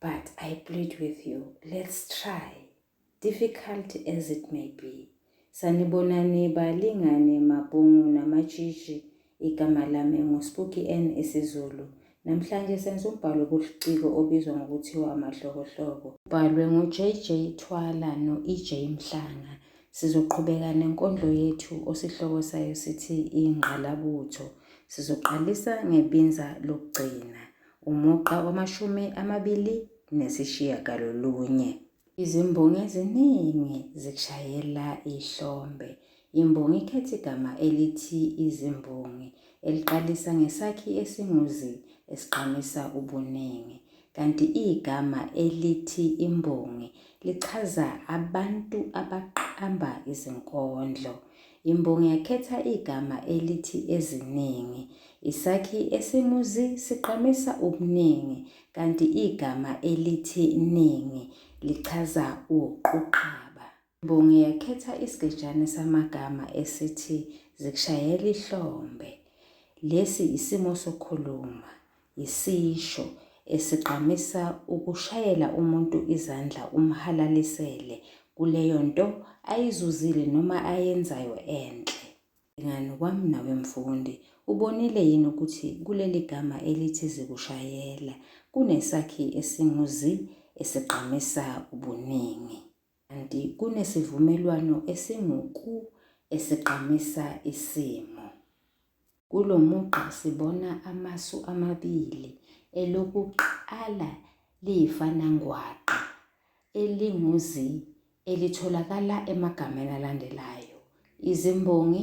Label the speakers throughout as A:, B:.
A: But I plead with you, let's try. Difficult as it may be. Sanibonani balingane mabhungu namatshitshi igama lami nguSpooky N isiZulu. Namhlanje senza umbhalo obuliciko obizwa ngokuthiwa amahlokohloko. Ubhalwe nguJJ Thwala no-EJ Mhlanga. Sizoqhubeka nenkondlo yethu osihloko sayo sithi ingqalabutho. Sizoqalisa ngebinza lokugcina. umugqa wamashumi amabili nesishiyagalolunye. Izimbongi eziningi zikushayela ihlombe. Imbongi ikhetha igama elithi izimbongi eliqalisa ngesakhi esinguzi esigqamisa ubuningi, kanti igama elithi imbongi lichaza abantu abaqamba izinkondlo. Imbongi yakhetha igama elithi eziningi. Isakhi esimuzi sigqamisa ubuningi kanti igama elithi ningi lichaza uquqaba. Imbongi yakhetha isigejane samagama esithi zikushayela ihlombe. Lesi isimo sokukhuluma. Yisisho esigqamisa ukushayela umuntu izandla umhalalisele kuleyo nto ayizuzile noma ayenzayo enhle. Bhekani kwami nawe mfundi, ubonile yini ukuthi kuleli gama elithi zikushayela kunesakhi esingu-zi esigqamisa ubuningi? Kanti kunesivumelwano esinguku esigqamisa isimo. Kulo mugqa sibona amasu amabili, elokuqala liyifanangwaqa elinguzi elitholakala emagameni alandelayo, izimbongi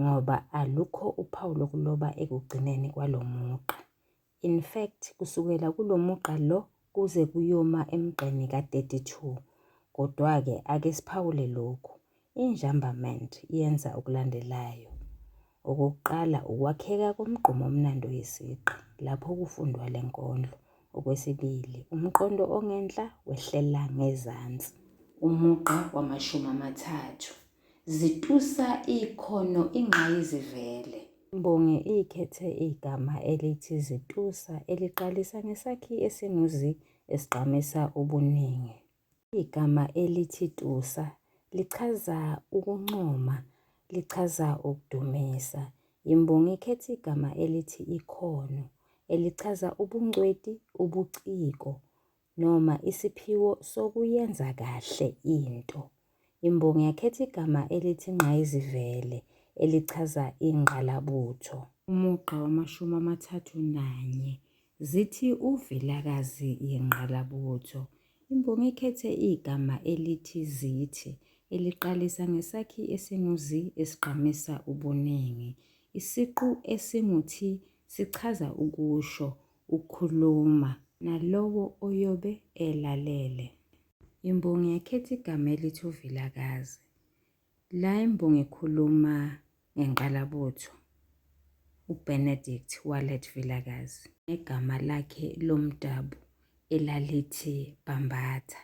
A: ngoba alukho uphawu lokuloba ekugcineni kwalo mugqa. In fact, kusukela kulo mugqa lo kuze kuyoma emgqeni ka-32. Kodwa-ke ake siphawule lokhu. Injambament yenza okulandelayo. Okokuqala, ukwakheka komgqumo omnandi oyisiqi lapho kufundwa le nkondlo. Okwesibili, umqondo ongenhla wehlela ngezansi. Umugqa wamashumi amathathu. Zitusa ikhono ingqayizivele. Imbongi ikhethe igama elithi zitusa eliqalisa ngesakhi esinguzi esigqamisa ubuningi. Igama elithi tusa lichaza ukuncoma, lichaza ukudumisa. Imbongi ikhethe igama elithi ikhono elichaza ubungcweti, ubuciko. noma isiphiwo sokuyenza kahle into. Imbongi yakhetha igama elithi ingqayizivele elichaza ingqalabutho. Umugqa wamashumi amathathu nanye zithi uVilakazi yingqalabutho. Imbongi ikhethe igama elithi zithi eliqalisa ngesakhi esinguzi esigqamisa ubuningi. Isiqu esinguthi sichaza ukusho ukukhuluma nalowo oyobe elalele. Imbongi yakhetha igama elithi uVilakazi. La imbongi ikhuluma ngenqalabutho uBenedict Wallet Vilakazi ngegama lakhe lomdabu elalithi Bambatha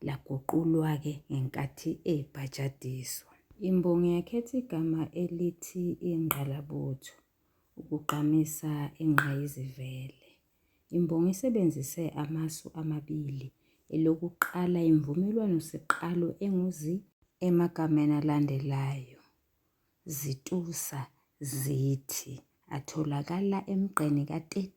A: laguqulwa-ke ngenkathi ebhajadiswa. Imbongi yakhetha igama elithi ingqalabutho. ukugqamisa ingqayizivele. Imbongi isebenzise amasu amabili, elokuqala imvumelwano siqalo enguzi emagameni alandelayo. Zitusa, zithi, atholakala emgqeni ka-30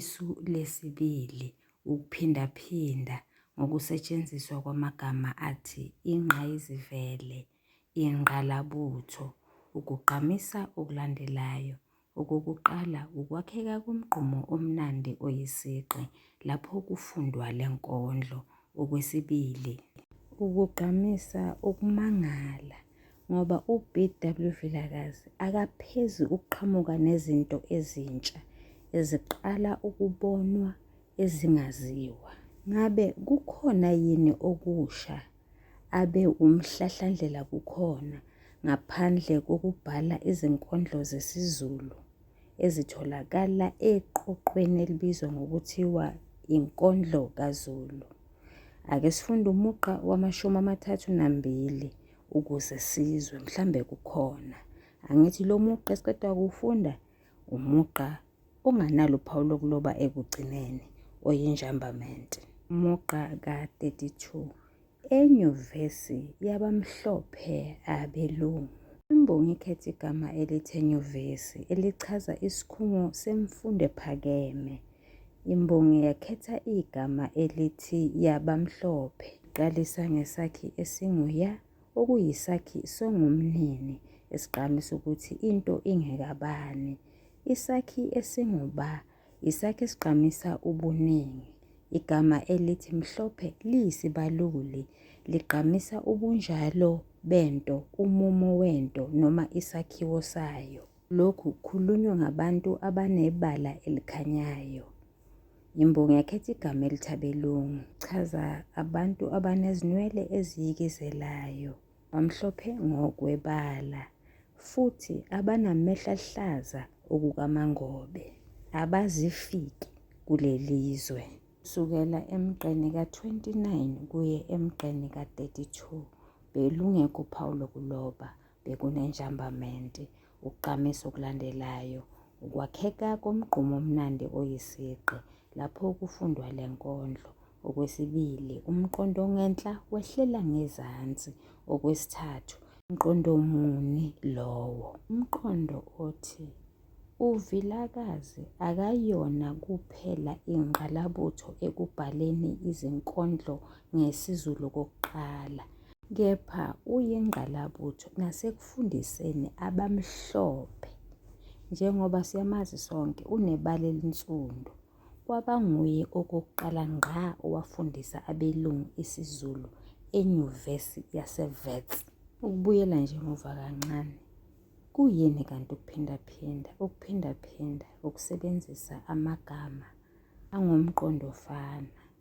A: Isu lesibili ukuphindaphinda ngokusetshenziswa kwamagama athi ingqayizivele, ingqalabutho. Ukugqamisa okulandelayo. Okokuqala, ukwakheka komgqumo omnandi oyisigqi lapho kufundwa le nkondlo. okwesibili. Ukugqamisa ukumangala ngoba uBW Vilakazi akaphezi ukuqhamuka nezinto ezintsha eziqala ukubonwa ezingaziwa. Ngabe kukhona yini okusha abe umhlahlandlela kukhona ngaphandle kokubhala izinkondlo zesiZulu? ezitholakala eqoqweni elibizwa ngokuthiwa inkondlo kaZulu. Ake sifunde umugqa wamashumi amathathu nambili ukuze sizwe mhlambe kukhona. Angithi lo mugqa esiqeda kuwufunda umugqa onganalo uphawu lokuloba ekugcineni oyinjambamente. Umugqa ka-32. Enyuvesi yabamhlophe abelungu. Imbongi ikhetha igama elithi enyuvesi elichaza isikhungo semfundo ephakeme. Imbongi yakhetha igama elithi yabamhlophe. Iqalisa ngesakhi esinguya okuyisakhi songumnini esigqamisa ukuthi into ingekabani. Isakhi esinguba Isakhi esigqamisa ubuningi. Igama elithi mhlophe liyisibaluli, ligqamisa ubunjalo bento, umumo wento noma isakhiwo sayo. Lokhu kukhulunywa ngabantu abanebala elikhanyayo. Imbongi yakhetha igama elithabelungu. Chaza abantu abanezinwele eziyikizelayo. Bamhlophe ngokwebala futhi abanamehlo aluhlaza okukamangobe, abazifiki kuleli zwe. Kusukela emgqeni ka-29 kuye emgqeni ka-32 belungekho uphawu lokuloba, bekunenjambamente. Ukugqamisa okulandelayo ukwakheka komgqumo omnandi oyisigqi lapho kufundwa le nkondlo. Okwesibili, umqondo ongenhla wehlela ngezansi. Okwesithathu, umqondo muni lowo? Umqondo othi uVilakazi akayona kuphela ingqalabutho ekubhaleni izinkondlo ngesiZulu kokuqala kepha uyingqalabutho nasekufundiseni abamhlophe njengoba siyamazi sonke unebala elinsundu kwabanguye okokuqala ngqa owafundisa abelungu isiZulu enyuvesi yaseWits. Ukubuyela nje emuva kancane, kuyini kanti ukuphindaphinda? Ukuphindaphinda ukusebenzisa amagama angomqondofana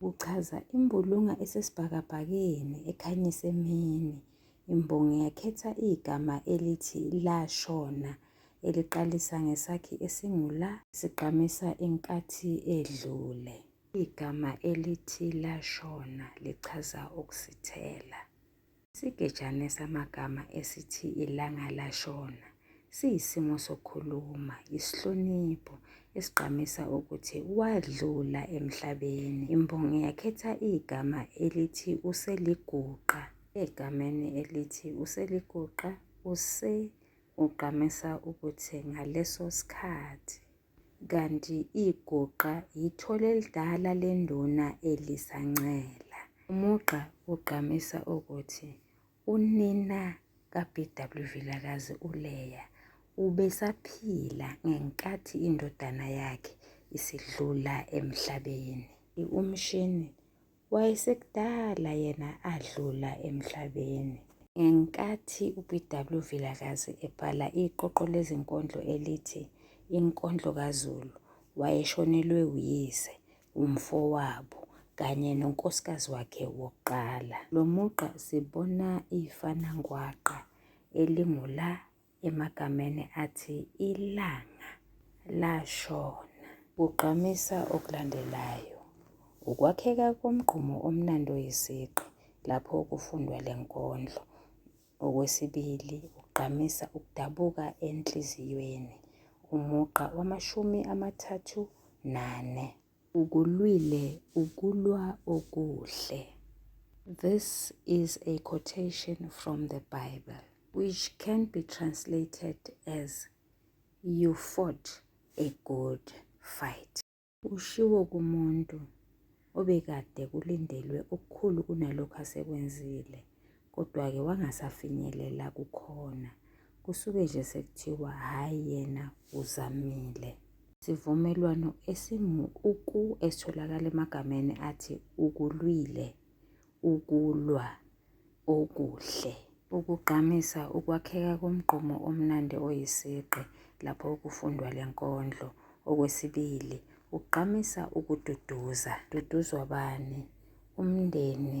A: Kuchaza imbulunga esesibhakabhakeni ekhanyisa emini. Imbongi yakhetha igama elithi lashona eliqalisa ngesakhi esingula sigqamisa inkathi edlule. Igama elithi lashona lichaza ukusithela. Isigejane samagama esithi ilanga lashona siyisimo sokukhuluma, isihlonipho esigqamisa ukuthi wadlula emhlabeni. Imbongi yakhetha igama elithi useliguqa. Egameni elithi useliguqa use ugqamisa ukuthi ngaleso sikhathi. Kanti iguqa yithole elidala lenduna elisancela. Umugqa ugqamisa ukuthi unina kaBW Vilakazi uLeya ubesaphila ngenkathi indodana yakhe isidlula emhlabeni. Umshini wayesekudala yena adlula emhlabeni. Ngenkathi uBW Vilakazi ebhala iqoqo lezinkondlo elithi Inkondlo kaZulu, wayeshonelwe uyise, umfowabo, kanye nonkosikazi wakhe wokuqala. Lo mugqa sibona ifanangwaqa elingu-la emagameni athi ilanga lashona. Kugqamisa okulandelayo, ukwakheka komgqumo omnandi oyisigqi lapho kufundwa le nkondlo. Okwesibili, ugqamisa ukudabuka enhliziyweni, umugqa wamashumi amathathu nane. Ukulwile ukulwa okuhle. This is a quotation from the Bible, which can be translated as You fought a good fight. Ushiwo kumuntu obekade kulindelwe okukhulu kunalokho asekwenzile. kodwa-ke wangasafinyelela kukhona. Kusuke nje sekuthiwa hhayi yena uzamile. Isivumelwano esingu-uku esitholakala emagameni athi ukulwile, ukulwa, okuhle. Ukugqamisa ukwakheka komgqomo omnandi oyisigqi lapho kufundwa le nkondlo. Okwesibili, ugqamisa ukududuza. Duduzwa bani? Umndeni.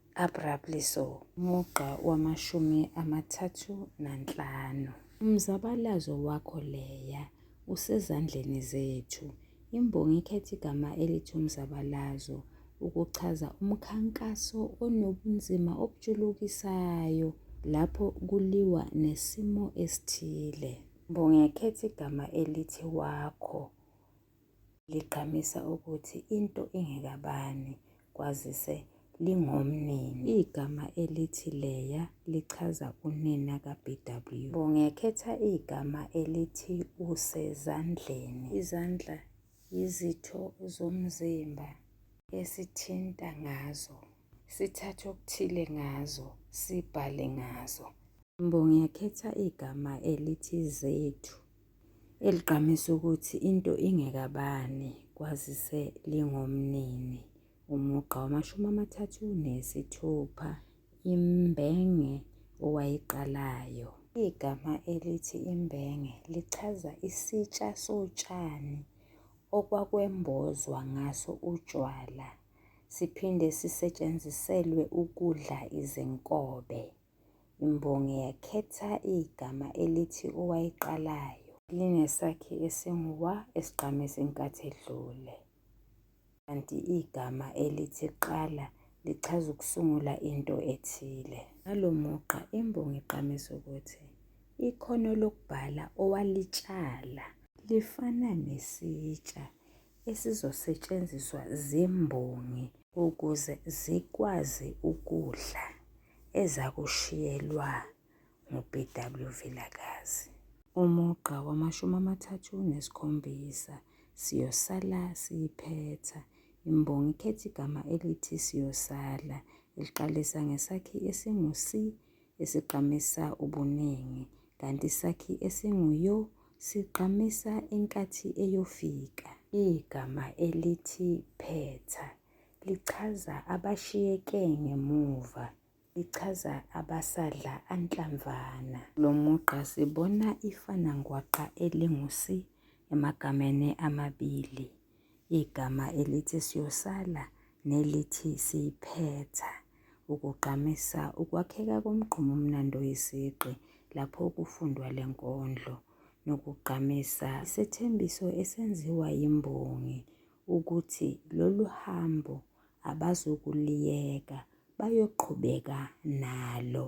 A: abruptly so. Mugqa wamashumi amathathu nanhlanu. Umzabalazo wakho leya usezandleni zethu. Imbongi ikhetha igama elithi umzabalazo ukuchaza umkhankaso onobunzima obujulukisayo lapho kuliwa nesimo esithile. Mbongi ekhetha igama elithi wakho ligqamisa ukuthi into ingekabani kwazise lingomnini. Igama elithi Leya lichaza unina kaBW. Bongekhetha igama elithi usezandleni. Izandla yizitho zomzimba esithinta ngazo, sithathe okuthile ngazo, sibhale ngazo. Mbongekhetha igama elithi zethu. eligqamisa ukuthi into ingekabani kwazise lingomnini umugqa wamashumi amathathu nesithupha imbenge owayiqalayo. Igama elithi imbenge lichaza isitsha sotshani okwakwembozwa ngaso utshwala siphinde sisetshenziselwe ukudla izinkobe. Imbongi yakhetha igama elithi owayiqalayo. Linesakhi esinguwa esigqame senkathi edlule. Kanti igama elithi qala lichaza ukusungula into ethile. Ngalo mugqa imbongi igqamisa ukuthi ikhono lokubhala owalitshala lifana nesitsha esizosetshenziswa zimbongi ukuze zikwazi ukudla ezakushiyelwa nguBW Vilakazi. Umugqa wamashumi amathathu nesikhombisa siyosala siyiphetha. Imbongi ikhetha igama elithi siyosala eliqalisa ngesakhi esingu-si esigqamisa ubuningi, kanti isakhi esinguyo sigqamisa inkathi eyofika. Igama elithi phetha lichaza abashiyeke ngemuva, lichaza abasadla anhlamvana. Lo mugqa sibona ifanangwaqa elingusi emagameni amabili. igama elithi siyosala nelithi siyiphetha ukugqamisa ukwakheka komgqumo omnandi oyisigqi lapho kufundwa le nkondlo nokugqamisa isethembiso esenziwa yimbongi ukuthi lolu hambo abazokuliyeka bayoqhubeka nalo.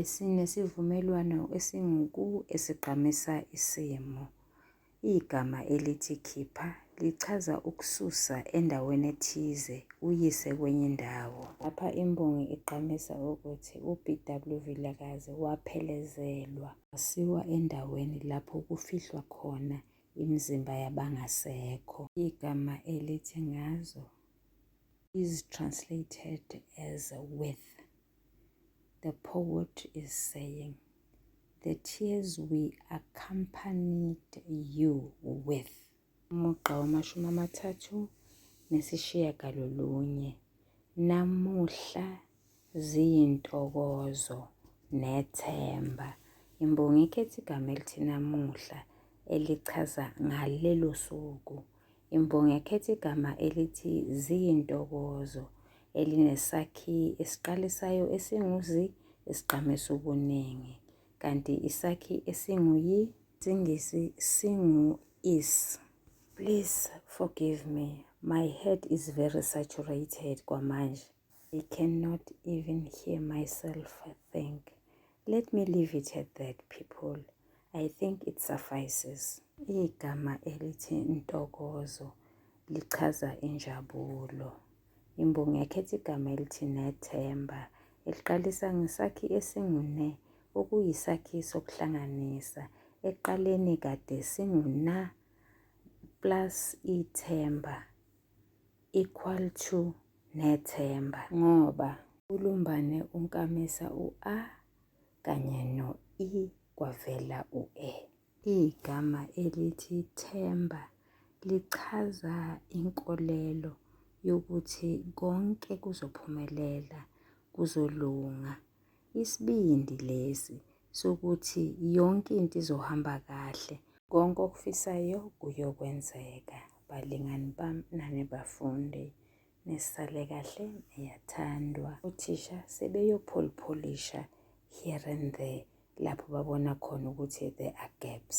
A: esinesivumelwano esinguku esigqamisa isimo. Igama elithi khipha lichaza ukususa endaweni ethize uyise kwenye indawo. Lapha imbongi igqamisa ukuthi uBW Vilakazi waphelezelwa wasiwa endaweni lapho kufihlwa khona imizimba yabangasekho. Igama elithi ngazo is translated as with. The poet is saying, the tears we accompanied you with. Umugqa wamashumi amathathu nesishiyagalolunye. Namuhla ziyintokozo nethemba. Imbongi ikhetha igama elithi namuhla elichaza ngalelo suku Imbongi ekhetha igama elithi ziyintokozo elinesakhi esiqalisayo esinguzi esigqamisa ubuningi kanti isakhi esinguyi singisi singu is please forgive me my head is very saturated kwamanje I cannot even hear myself think. Let me leave it at that people. I think it suffices. Igama elithi ntokozo lichaza injabulo. Imbongi yakhetha igama elithi nethemba eliqalisa ngesakhi esingune okuyisakhi sokuhlanganisa ekuqaleni kade singuna plus ithemba equal to nethemba ngoba ulumbane unkamisa u-a kanye no-i kwavela u-e. Igama elithi themba lichaza inkolelo yokuthi konke kuzophumelela, kuzolunga isibindi lesi sokuthi yonke into izohamba kahle konke okufisayo kuyokwenzeka balingani bami nani bafundi nisale kahle niyathandwa uthisha sebeyopholipholisha here and there lapho babona khona ukuthi there are gaps